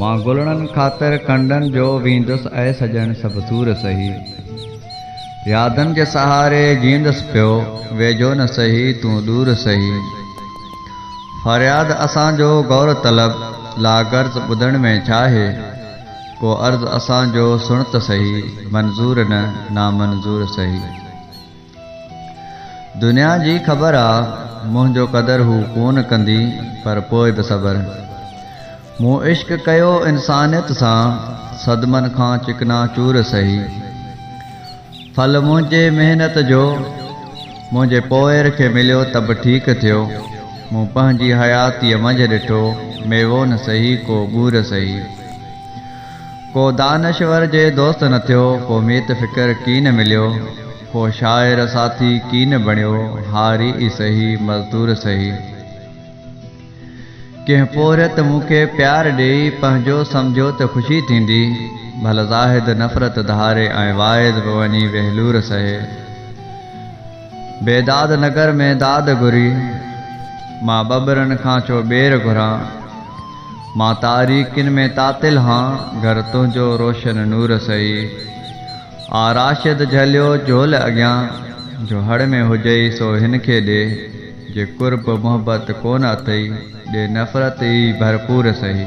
مان گلڙن خاطر ڪنڊن جو ويندس اي سڄڻ سڀ دور سهي يادن جي سهاري جيئندس پيو ويجهو نه سهي تون ڏور سهي فرياد اسان جو غور طلب لاغرض ٻڌڻ ۾ ڇا هي. ڪو عرض اسان جو سڻ ته سهي، منظور نه نامنظور سهي. دنيا جي خبر آ، منهنجو قدر هو ڪونه ڪندي، پر پوء به صبر. مون عشق ڪيو انسانيت سان، صدمن کان چڪنا چور سهي. ڦل منهنجي محنت جو منهنجي پوئر کي مليو ته به ٺيڪ ٿيو. مون پنهنجي حياتيء منجهه ڏٺو ميوو نه سهي ڪو ٻور سهي. ڪو دانشور جي دوست نه ٿيو، ڪو ميت فڪر ڪين مليو، ڪو شاعر ساٿي ڪين بڻيو، هاري ئي سهي مزدور سهي. ڪنهن پورهيت مون کي پيار ڏيئي پنهنجو سمجهيو ته خوشي ٿيندي، ڀل زاهد نفرت ڌاري ۽ واعظ به وڃي ويهلور سهي. بيداد نگر ۾ داد گهري، مان ٻٻرن کان ڇو ٻير گهران. مان تاريڪين ۾ تعطل هان، گهر تنهنجو روشن نور سهي. آء راشد جهليو جهول اڳيان، جو هڙ ۾ هجئي سو هن کي ڏي. جي قرب محبت ڪونه اٿئي، ڏي نفرت ئي ڀرپور سهي.